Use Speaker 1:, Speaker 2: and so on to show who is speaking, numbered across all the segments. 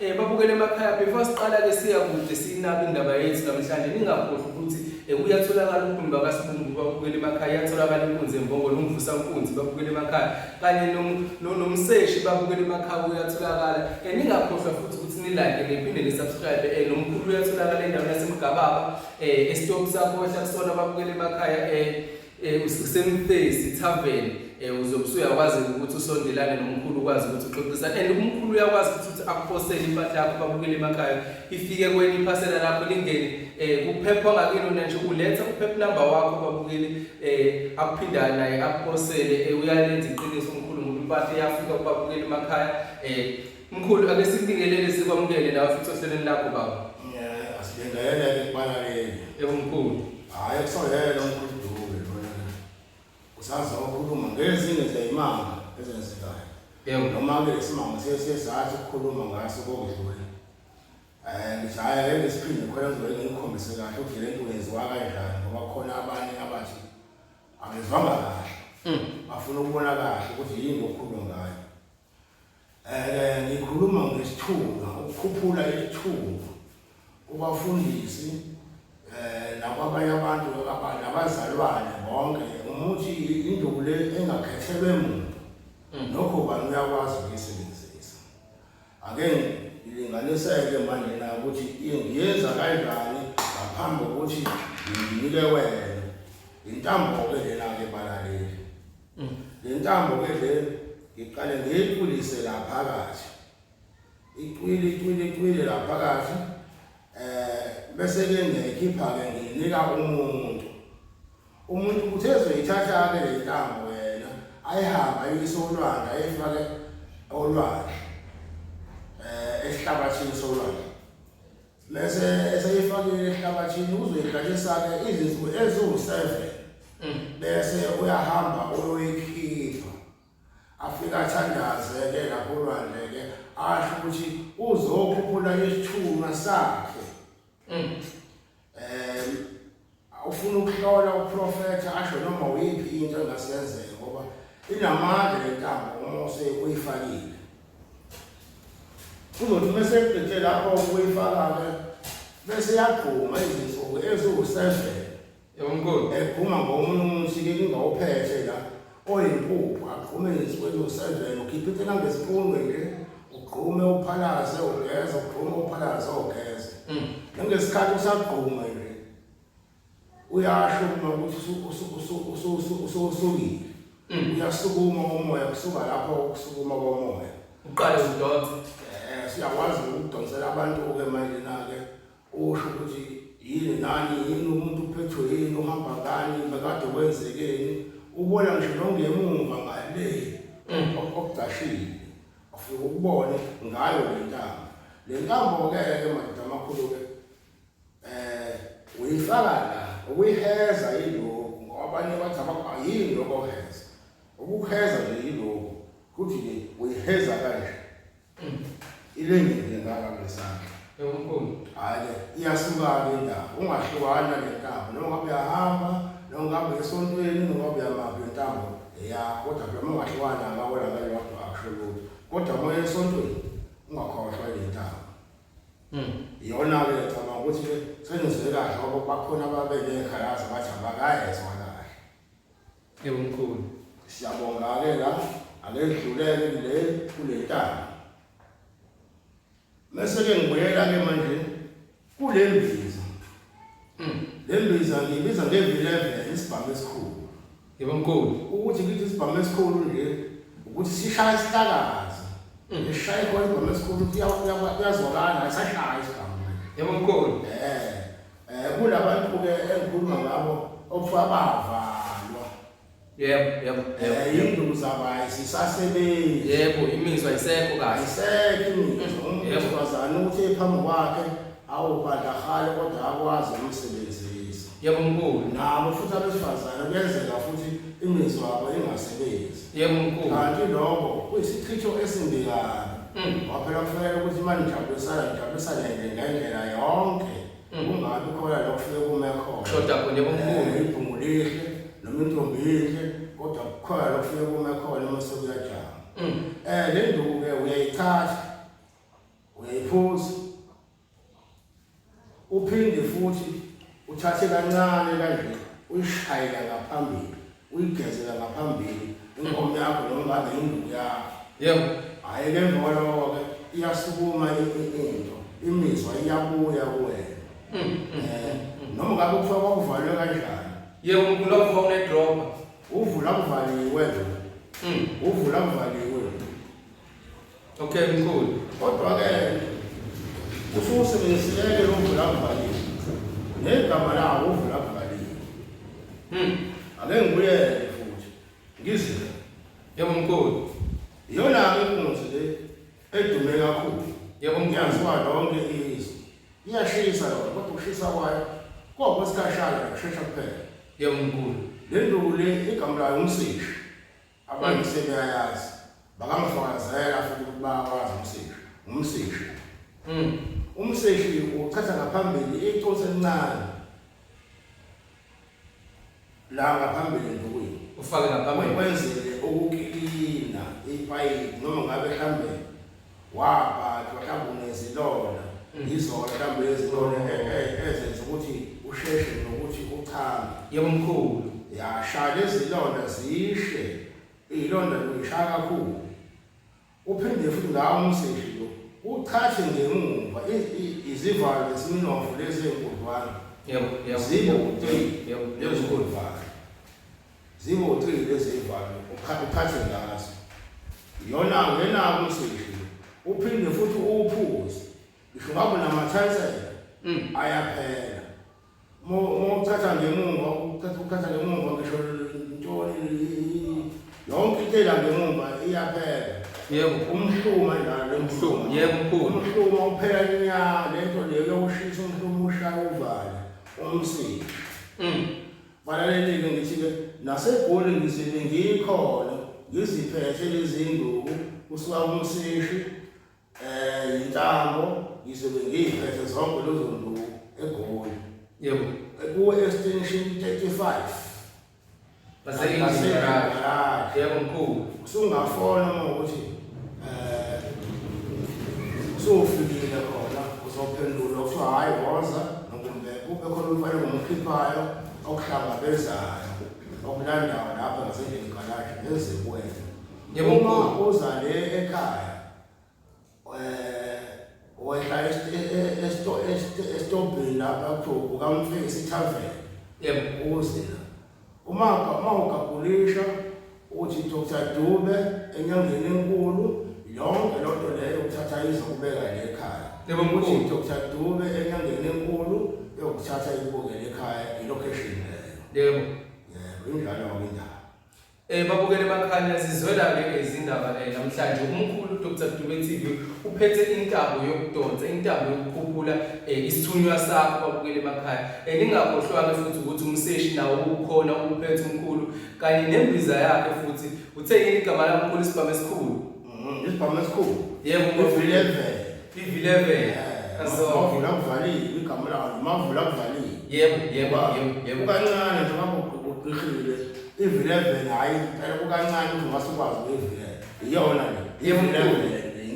Speaker 1: Eh babukele emakhaya before siqala ke siya kude sinaba indaba yethu namhlanje ningakhohlwa ukuthi eh, kuyatholakala unkuni bakasibumbu babukele emakhaya yatholakala inkunzi embongolo umvusa nkunzi babukele emakhaya kanye nomseshi babukele emakhaya uyatholakala eh, ningakhohlwa futhi ukuthi nilike niphinde nisubscribe eh, nomkhulu uyatholakala endaweni yasemgababa eh, esitokisa kohla kusona babukele emakhaya eh, Eh, usemface itavern eh, uzobe usuyakwazi ukuthi usondelane nomkhulu ukwazi ukuthi uxoxisane and umkhulu uyakwazi ukuthi ukuthi akuphosele impahla yakho babukele emakhaya ifike kwenye iphasela lakho lingene eh, kuphepha ngakini wena nje uletha uphepha number wakho babukele akuphindana naye akuphosele uyalenza iqiniso umkhulu ngoba impahla iyafika kubabukele emakhaya Mkhulu ake sikubingelele sikwamukele la ufica ohlelweni lakho baba. Yeah, asibingelele
Speaker 2: kubana yini. Yebo mkhulu.
Speaker 1: Hayi kusoyela
Speaker 2: mkhulu Dube lona. Usaza ukukhuluma ngezinye zeyimanga ezenzekayo. Yebo. Noma ke isimanga sesizathi ukukhuluma ngaso kokudlula. Eh ngijaya ke ngisiphinde khona ngizole ngikhombise kahle ukuthi le nto yenziwa kanjani ngoba khona abanye abathi angizwanga kahle. Mm. Bafuna ukubona kahle ukuthi yini okukhuluma ngayo. Eh ngikhuluma ngesithunywa ukukhuphula isithunywa kubafundisi eh nakwabanye abantu abanye abazalwane bonke umuthi induku le engakhethelwe muntu mm. nokho bani uyakwazi ukuyisebenzisa ake ngilinganiseke manje na ukuthi ngiyenza kanjani ngaphambi kokuthi nginike wena intambo ke lena ke balaleli Mm. Le ntambo ke le ngiqale ngiyiqulise la phakathi. Iqwili iqwili iqwili la phakathi. Eh bese ke ngiyikhipha ke nginika umuntu. Umuntu uthe ezoyithatha ke le ntambo wena ayihamba ayisolwanga ayifake olwandle. Eh esihlabathini solwandle. Bese eseyifakile ehlabathini uzoyigatshisa-ke izinsuku eziwu-seven mm. bese uyahamba uyoyikhipha afike athandaze-ke lapho olwandle-ke asho ukuthi uzokhuphula isithunywa sakhe um Ufuna ukuhlola uprofetha asho noma uyiphi into engasenzeka ngoba inamandla le ntambo uma useyifakile. Kuzothi uma sekugcithe lapho ukuyifaka-ke bese yagquma izinsuku eziwu-seven. Yebo mkhulu.
Speaker 1: Egquma ngomunye
Speaker 2: umuthi-ke kungawuphethe la. oyimpuphu agqume ngesibonyo usenjena ukhiphe into nangesipundwe nje ugqume uphalaze ugeze ugqume uphalaze ogeze mm. nangesikhathi usagqume nje uyasho uma ukuthi usuwusukile mm. uyasukuma umoya kusuka lapho ukusukuma komoya uqale udonse
Speaker 1: um siyakwazi
Speaker 2: ukudonsela abantu-ke manje na-ke Usho ukuthi yini nani yini umuntu uphethwe yini uhamba ngani bekade kwenzekeni ubona ngisho nongemuva ngale mm. okugcashile afike ukubone ngayo le ntambo le ntambo-ke ke madoda amakhulu-ke um uyifaka la ukuyiheza yiloku ngoba abanye bathi yini lokho oheza ukuheza nje yiloku kuthi-ke uyiheza kanje ilengile ngaka ngesandla yomkhulu
Speaker 1: hayi
Speaker 2: iyahlukana indawo ungahlukana nentambo noma ngabe uyahamba noma ngabe esontweni noma ngabe uyamaphi intambo ya kodwa phela uma ungahlukana ngawona ngeke wakho akusho lutho kodwa uma esontweni ungakhohlwa ile ntambo hmm. iyona ke ngicabanga ukuthi senizwe kahle ngoba bakhona ababe nekhalazi bathi abakayezwa Yebo mkhulu.
Speaker 1: Siyabonga ke
Speaker 2: la aledluleke le kule ntaba. Mese ke ngibuyela ke manje kule mbiza. Mm. Le mbiza ngibiza ngevileve isibhamu esikhulu. Yebo mkhulu.
Speaker 1: Ukuthi ngithi isibhamu
Speaker 2: esikhulu nje ukuthi sishaya isihlakazi. Mm. Ngishaya ikhono isibhamu esikhulu kuyazwakala ayisashaya isibhamu. Yebo mkhulu. Eh.
Speaker 1: Eh
Speaker 2: kulabantu ke engikhuluma ngabo okufa bavalwa. Yebo,
Speaker 1: yebo. Eh yinduku
Speaker 2: zabayi sisasebenzi. Yebo, imizwa
Speaker 1: isekho kahle. Isekho imizwa.
Speaker 2: Mm, yebo, bazana ukuthi ephambi kwakhe awubanda khale kodwa akwazi umsebenzisi. Yebo mkhulu.
Speaker 1: Nabo futhi
Speaker 2: abesifazana kuyenzeka futhi imizwa yabo ingasebenzi. Yebo mkhulu. Kanti
Speaker 1: lokho
Speaker 2: kuyisichitho esimbi kabi. Mm. Waphela kufanele ukuthi imali ijabulisana ijabulisane nje ngendlela yonke. Mm. Kungabi khona la kufike kume khona.
Speaker 1: Kushoda
Speaker 2: kunye komkhulu. Eh, ibhungu
Speaker 1: lihle
Speaker 2: noma intombi inhle kodwa kukhona la kufike kume khona uma sekuyajama. Mm. Eh le nduku-ke uyayithatha uyayiphuza uphinde futhi uthathe kancane kanje uyishayela ngaphambili uyigezela ngaphambili inkomo yakho noma ngabe yinduku yakho yebo hhayi
Speaker 1: ke emva
Speaker 2: kwaloko-ke iyasukuma into imizwa iyabuya kuwena mm, mm, um eh, mm, noma ngabe kuthiwa kwakuvalwe kanjani yebo mkhulu akuva
Speaker 1: unedroba uvula
Speaker 2: kuvaliwe uvula kuvaliwe
Speaker 1: Okay mkhulu. Kodwa ke
Speaker 2: usuke usebenziseke lo mvula kuvalile. Negama lawo uvula kuvalile. Hmm. Ake ngibuye futhi. Ngizile. Yebo
Speaker 1: mkhulu. Iyona ke
Speaker 2: ingozi le edume kakhulu. Yebo mkhulu. Ngiyaziwa
Speaker 1: lonke
Speaker 2: izwe. Iyashisa yona kodwa ukushisa kwayo kodwa isikhashana kushesha kuphela. Yebo mkhulu.
Speaker 1: Le nduku le
Speaker 2: igama layo umsishi. Abantu sebeyayazi bakamfakazela futhi ukuthi bayawazi umseshi umseshi mm. umseshi uchaza ngaphambili iconsi elincane la ngaphambili ndukwini ufake ngaphambili
Speaker 1: kwenzele
Speaker 2: ukukilina ipayipi noma ngabe hambele wabhathwa mhlawumbe unezilona yizona mhlawumbe ezilona e- e- ezenza ukuthi usheshe nokuthi uchame yebo mkhulu
Speaker 1: yashaya
Speaker 2: lezilonda zishe iyilonda lishaya kakhulu uphinde futhi ngawo umseshi lo uchathe ngemumva i- i- izivalo zesiminofu lezi enkudlwana yebo yebo
Speaker 1: zibe yebo, uteyi
Speaker 2: yebo, yebo.
Speaker 1: lezikudlwana
Speaker 2: Ziwu-three lezi ey'valwe ukha- ukhathwe ngazo. Yona ngenako useyidlile. Uphinde futhi uwuphuze. Ngisho ngabe unamathayisela Mm. ayaphela. Uma uma uchatha ngemumva, uchatha ukhatha ngemumva ngisho ntoni yonke into ela ngemumva iyaphela. Yebo.
Speaker 1: Umhluma njalo
Speaker 2: Umhluma, yebo, mkhulu.
Speaker 1: Umhluma uphela
Speaker 2: nya lento leyo yokushisa umhluma ushaya uvale umsika. Mm. Balalelike ngithi-ke naseGoli ngizibe ngikhona ngiziphethe lezi nduku kusuka kumsishi um yintambo ngizobe ngiyiphethe zonke lezo nduku egoli yebo
Speaker 1: kuwe-extension
Speaker 2: thirty five baseyinjini
Speaker 1: yebo mkhulu usungafona uma
Speaker 2: ukuthi sofikile khona uzophendula kuthiwa hhayi woza nokumbe kube khona umfana ngomkhiphayo okuhlangabezayo okulandayo lapho ngasendlini galaji nezikwena uma
Speaker 1: uza le
Speaker 2: ekhaya um wehla esitobhini lapha kuthiwa ukamfeki sithavele yebo
Speaker 1: uzila
Speaker 2: Umaka uma ugagulisha uthi Dr Dube enyangeni enkulu yonke loo nto leyo ukuthatha izokubeka le ekhaya Yebo, uthi mkhulu. Dr
Speaker 1: Dube
Speaker 2: enyangeni enkulu yokuthatha ikubukele ekhaya ilocation leyo Yebo.
Speaker 1: yebo injalo
Speaker 2: ngoba indaba Eh babukele
Speaker 1: bakhanya sizwela ke ke izindaba eh namhlanje umkhulu Dr Dube TV uphethe intambo yokudonsa intambo yokukhuphula eh isithunywa sakho babukele bakhanya Beningakhohlwa-ke futhi ukuthi umseshi nawo ubukhona ubuphethe umkhulu kanye nembiza yakhe futhi uthe yini igama lamkhulu isibhamu esikhulu Mm, Isibhamu esikhulu.
Speaker 2: yebo Ivileve.
Speaker 1: ivileve Mavula
Speaker 2: kuvalile igama lawo. Mavula kuvalile. yebo yebo yebo
Speaker 1: yebo Kukancane
Speaker 2: njengoba ugqigqile. Ivileve hayi impela kukancane ukuthi ungasikwazi ngevileve. Iyona le. Yebo mkhulu.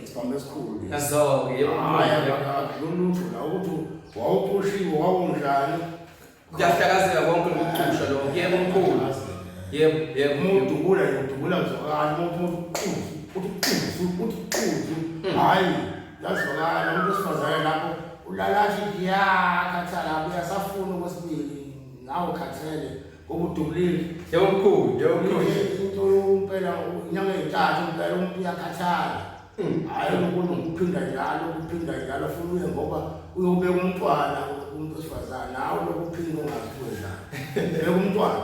Speaker 1: Isibhambo
Speaker 2: esikhulu. Yazoke yebo.
Speaker 1: Hayi
Speaker 2: akulutho la ukuthi wawuphushiwe wawunjani. Kuyahlakazeka
Speaker 1: konke lokucusha lo. Yebo mkhulu. Yebo yebo umuntu ubula
Speaker 2: ubula uzokala umuntu uthi uthi uthi uthi hmm. hayi yazokala umuntu osifazane lapho ulalathi yakhathala uyasafuna okwesibili nawe khathele Ukudubulile. Yebo mkhulu,
Speaker 1: yebo mkhulu. Into
Speaker 2: yompela unyanga eyithathu impela umuntu uyakhathala. Hmm. Hayi umuntu ukuphinda njalo, ukuphinda njalo futhi uye ngoba uyobeka umntwana umuntu osifazane nawe lokuphinda ungazikwenza. Beka umntwana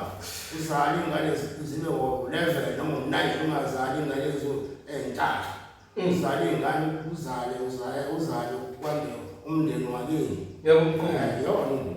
Speaker 2: uzale ingane zibe wo 11 noma 9 ungazali ingane ezo entathu. Hmm. Uzale ingane uzale uzale uzale kwande umndeni wakini. Yebo mkhulu.
Speaker 1: Yona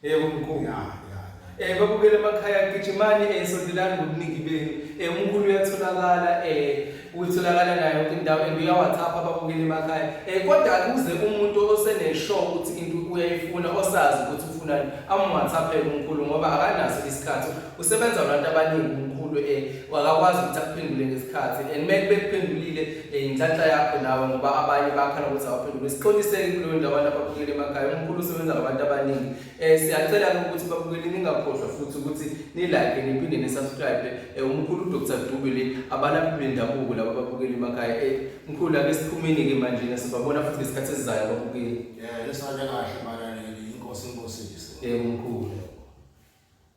Speaker 1: Yebo mkhulu ya ya. Eh babukele emakhaya gijimani eh sondelani ngobuningi benu. Eh umkhulu uyatholakala eh utholakala nayo yonke indawo and uyawathapha babukele emakhaya. Eh kodwa kuze umuntu oseneshow ukuthi into uyayifuna osazi ukuthi ufunani amwathaphele umkhulu ngoba akanaso isikhathi. Usebenza abantu abaningi umkhulu eh wakakwazi ukuthi akuphendule ngesikhathi and make bekuphendulile Inhlanhla yakho nawe ngoba abanye bakhala ukuthi awaphendule. Sixoliseke kuleyo ndawo abantu ababukeli emakhaya. Umkhulu usebenza ngabantu abaningi. Eh siyacela ukuthi babukeli ningakhohlwa futhi ukuthi nilike niphinde nisubscribe. Eh umkhulu uDr Dubile abalaphi bendabuko laba babukeli emakhaya. Eh mkhulu ake siphumeni ke manje nasibabona futhi ngesikhathi esizayo ababukeli. Yeah, lesale
Speaker 2: kahle manje inkosi inkosi. Eh
Speaker 1: umkhulu.